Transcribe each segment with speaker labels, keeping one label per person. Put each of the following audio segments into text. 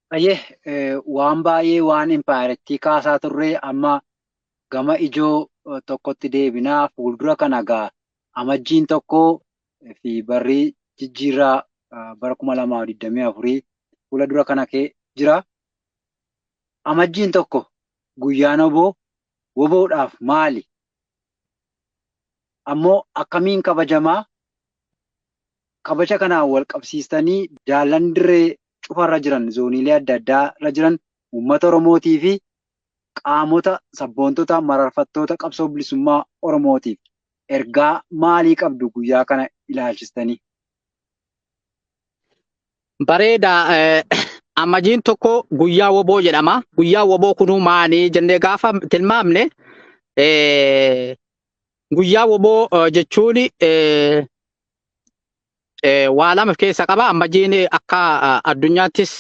Speaker 1: Baay'ee waan baay'ee waan impaayerattii kaasaa turre amma gama ijoo tokkotti deebinaa fuuldura kana gaa amajjiin tokko fi barrii jijjiirraa bara kuma lamaa fi digdamii afurii fuula dura kana kee jira. Amajjiin tokko guyyaan oboo woboodhaaf maali? Ammoo akkamiin kabajamaa? Kabaja kanaan walqabsiistanii daallan dirree cufa irra jiran zooniilee adda addaa irra jiran uummata Oromootii fi qaamota sabboontota mararfattoota qabsoo bilisummaa Oromootiif ergaa maalii qabdu guyyaa kana ilaalchistanii?
Speaker 2: Bareeda. Amajjiin tokko guyyaa woboo jedhama. Guyyaa woboo kunuu maali jennee gaafa tilmaamne guyyaa woboo jechuun waa lama of keessa qaba ammajiin akka addunyaattis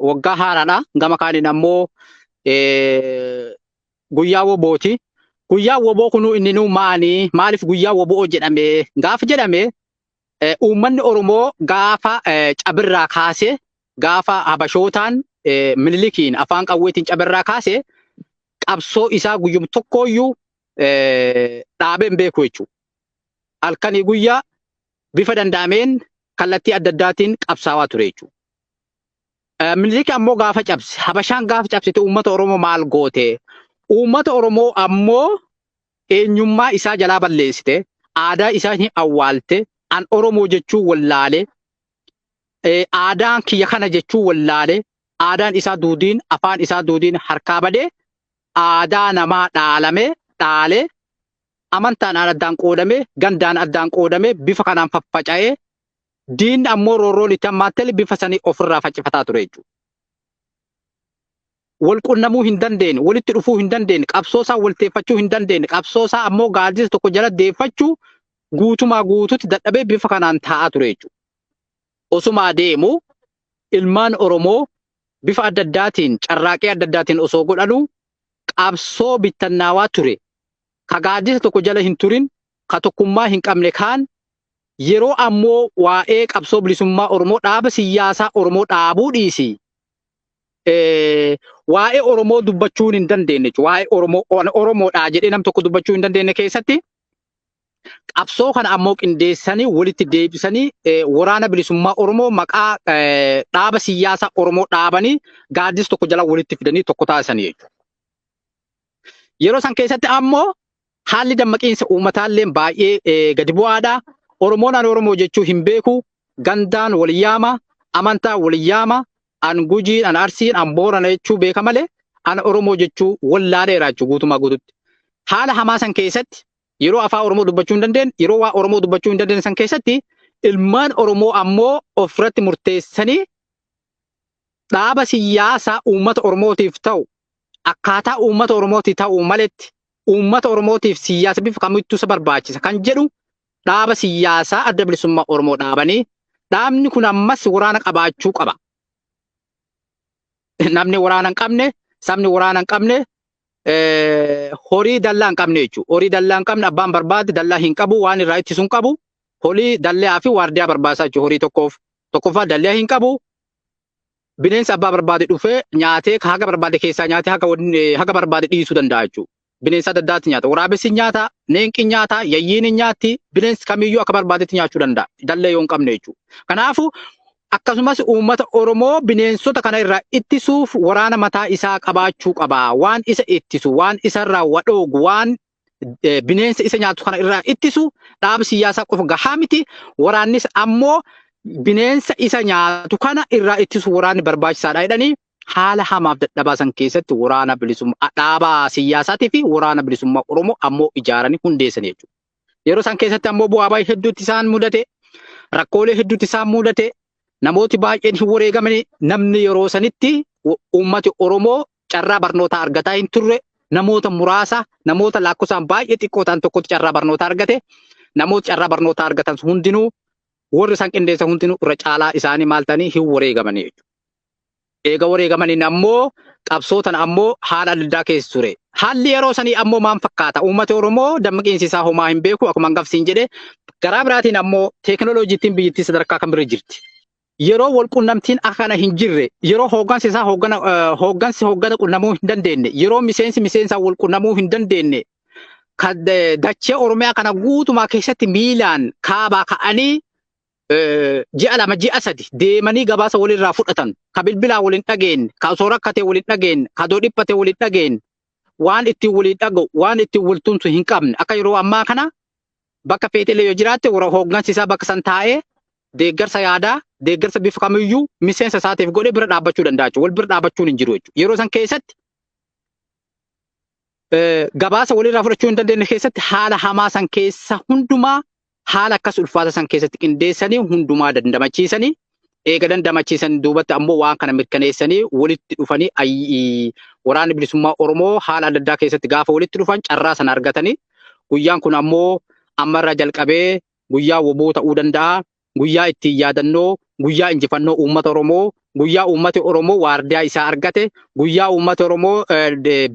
Speaker 2: waggaa haaraadha gama kaaniin ammoo guyyaa wobooti guyyaa woboo kunuu inni nuu maanii maaliif guyyaa woboo jedhame gaaf jedhame uummanni oromoo gaafa cabirraa kaase gaafa habashootaan minilikiin afaan qawweetiin cabirraa kaase qabsoo isaa guyyum tokkooyyuu dhaabee hin beeku jechuudha. halkanii guyyaa bifa danda'ameen kallattii adda addaatiin qabsaawaa ture jechuudha. Minilik ammoo gaafa cabse, Habashaan gaafa cabsite uummata Oromoo maal goote? Uummata Oromoo ammoo eenyummaa isaa jalaa balleessite, aadaa isaa hin awwaalte, an Oromoo jechuu wallaale, aadaan kiyya kana jechuu wallaale, aadaan isaa duudiin, afaan isaa duudiin harkaa badee, aadaa namaa dhaalame, dhaale, amantaadhaan addaan qoodamee, gandaan addaan qoodamee bifa kanaan faffaca'ee diinni ammoo roorroon itti hammaattele bifa sanii ofirraa faccifataa ture jechuudha. Wal qunnamuu hin dandeenye, walitti dhufuu hin dandeenye, qabsoo isaa walteeffachuu hin dandeenye, qabsoo isaa ammoo gaaddisa tokko jala deeffachuu guutumaa guututti dadhabee bifa kanaan taa'aa ture jechuudha. Osumaa deemu ilmaan Oromoo bifa adda addaatiin carraaqii adda addaatiin osoo godhanuu qabsoo bittannaawaa ture, ka gaaddisa tokko jala hin turin, ka tokkummaa hin qabne kaan, yeroo ammoo waa'ee qabsoo bilisummaa Oromoo dhaaba siyyaasaa Oromoo dhaabuu dhiisii, waa'ee Oromoo dubbachuun hin dandeennechu, waa'ee Oromoo, Oromoodhaa jedhee nam tokko dubbachuu hin dandeenne keessatti, qabsoo kana ammoo qindeessanii walitti deebisanii waraana bilisummaa Oromoo maqaa dhaaba siyaasaa Oromoo dhaabanii gaaddisa tokko jala walitti fidanii tokko taasisanii jechuudha. Yeroo san keessatti ammoo haalli dammaqiinsa uummataallee baay'ee gadi bu'aadha. Oromoon ani Oromoo jechuu hin beeku. Gandaan wal yaama, amantaan wal yaama, an Gujii, an Arsiin, an Boorana jechuu beeka malee an Oromoo jechuu wallaaleera jechuu guutumaa guututti. Haala hamaa san keessatti yeroo afaa Oromoo dubbachuu hin dandeenye, yeroo waa Oromoo dubbachuu hin dandeenye san keessatti ilmaan Oromoo ammoo ofirratti murteessanii dhaaba siyaasaa uummata Oromootiif ta'u akkaataa uummata Oromootii ta'u maletti uummata Oromootiif siyaasa bifa kamittuu isa barbaachisa kan jedhu dhaaba siyyaasaa Adda Bilisummaa Oromoo dhaabanii dhaabni kun ammas waraana qabaachuu qaba. Namni waraana hin qabne, sabni waraana hin qabne, eh, horii dallaa hin qabne jechuudha. Horii dallaa hin qabne abbaan barbaade dallaa hin qabu, waan irraa ittisu hin qabu. Horii dallaa fi waardiyaa barbaachisaa jechuudha horii tokkoof. Tokkoffaa dallaa hin qabu. Bineensa abbaa barbaade dhufee nyaatee haga barbaade keessaa nyaatee haga, wan- eh, haga barbaade dhiisuu danda'a jechuudha. bineensa adda addaatti nyaata. Waraabessi hin nyaata, neenqi hin nyaata, yayyiin hin nyaatti, bineensi kamiyyuu akka barbaadetti nyaachuu danda'a. Dallee yoo hin qabne jechuudha. Kanaafuu akkasumas uummata Oromoo bineensota kana irraa ittisuuf waraana mataa isaa qabaachuu qaba. Waan isa ittisu, waan isarraa wa dhoogu, waan eh, bineensa isa nyaatu kana irraa ittisu dhaaba siyaasaa qofa gahaa miti. Waraannis ammoo bineensa isa nyaatu kana irraa ittisu waraanni barbaachisaadha jedhanii haala hamaaf dadhabaa san keessatti waraana bilisummaa dhaabaa siyyaasaatii fi waraana bilisummaa Oromoo ammoo ijaaranii hundeessan jechuudha. Yeroo san keessatti ammoo bu'aa baay'ee hedduutti isaan mudate, rakkoolee hedduutti isaan mudate, namooti baay'een hin wareegamanii namni yeroo sanitti uummati Oromoo carraa barnootaa argataa hin turre, namoota muraasa, namoota lakkoofsaan baay'ee xiqqoo ta'an tokkotti carraa barnootaa argate, namoota carraa barnootaa argatan hundinuu warri isaan qindeessan hundinuu irra caalaa isaanii maal ta'anii hin wareegamanii jechuudha. Eega wareegamaniin ammoo qabsoo tana ammoo haala adda addaa keessa ture. Haalli yeroo sanii ammoo maal fakkaata? Uummati Oromoo dammaqiinsi isaa hoo maa hin beeku? Akkuma hangaf siin jedhe garaa biraatiin ammoo teekinooloojiittiin biyyittii sadarkaa kam irra jirti? Yeroo wal qunnamtiin akka kana hin jirre, yeroo hooggansi isaa hooggana eh, hooggansi hooggana qunnamuu hin dandeenye, yeroo miseensi miseensaan wal qunnamuu hin dandeenye, kan eh, dachee Oromiyaa kana guutumaa keessatti miilaan kaabaa ka'anii ji'a lama ji'a sadi deemanii gabaasa walirraa fudhatan ka bilbilaa waliin dhageenye ka osoo rakkatee waliin dhageenye ka doo dhiphatee waliin dhageenye waan ittiin waliin dhaga'u waan ittiin wal tumsu hin qabne akka yeroo ammaa kana bakka feetelee yoo jiraatte warra hooggansi isaa bakka san taa'ee deeggarsa yaadaa deeggarsa bifa kamiyyuu miseensa isaatiif godhee bira dhaabbachuu danda'a jechuudha. Wal bira dhaabbachuun hin jiru jechuudha. Yeroo san keessatti gabaasa walirraa fudhachuu hin dandeenye keessatti haala hamaa san keessa hundumaa haala akkas ulfaata san keessatti qindeessanii hundumaa dandamachiisanii eega dandamachiisan duubatti ammoo waan kana mirkaneessanii walitti dhufanii waraanni bilisummaa Oromoo haala adda addaa keessatti gaafa walitti dhufan carraa sana argatanii guyyaan kun ammoo ammarraa jalqabee guyyaa woboo ta'uu danda'a Guyyaa ittiin yaadannoo guyyaa injifannoo uummata Oromoo, guyyaa uummati Oromoo waardiyaa isaa argate, guyyaa uummati Oromoo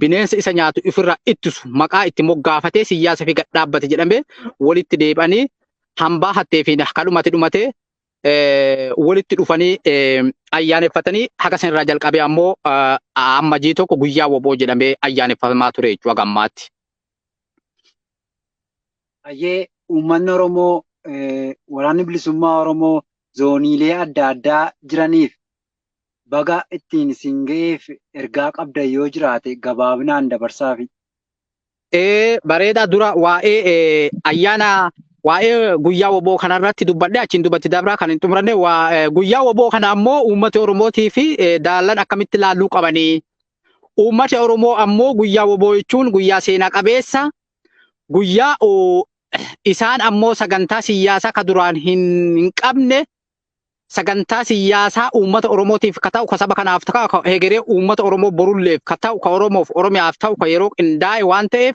Speaker 2: bineensa isa nyaatu ifirraa ittisu maqaa itti moggaafatee siyyaasa fi gad dhaabbate jedhamee walitti deebi'anii hambaa hattee fi kadhumati dhumate walitti dhufanii ayyaaneffatanii haga sanirraa jalqabee ammoo amma jii tokko guyyaa woboo jedhamee ayyaaneffamaa ture jechuudha gammaatti.
Speaker 1: Hayyee uummanni Oromoo waraanni bilisummaa Oromoo zooniilee adda addaa jiraniif baga ittiin isin ga'eef ergaa qabdan yoo jiraate gabaabinaan dabarsaafi.
Speaker 2: Bareedaa dura waa'ee ayyaana waa'ee guyyaa woboo kana irratti dubbadhe achiin dubbatti dabraa kan hin xumuranne guyyaa woboo kana ammoo uummata Oromootii fi daallan akkamitti laalluu qabanii Uummati Oromoo ammoo guyyaa woboo jechuun guyyaa seena qabeessa, guyyaa isaan ammoo sagantaa siyyaasaa ka duraan hin hin qabne, sagantaa siyyaasaa uummata Oromootiif ka ta'u, ka saba kanaaf ta'u, ka hegeree uummata Oromoo borulleef ka ta'u, ka Oromoof Oromiyaaf ta'u, ka yeroo qindaa'e waan ta'eef,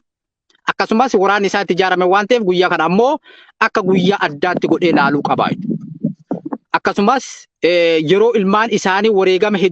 Speaker 2: akkasumas waraanni isaa itti ijaarame waan ta'eef guyyaa kana ammoo akka guyyaa addaatti godhee laaluu qaba. Akkasumas yeroo ilmaan isaanii wareegama hedduu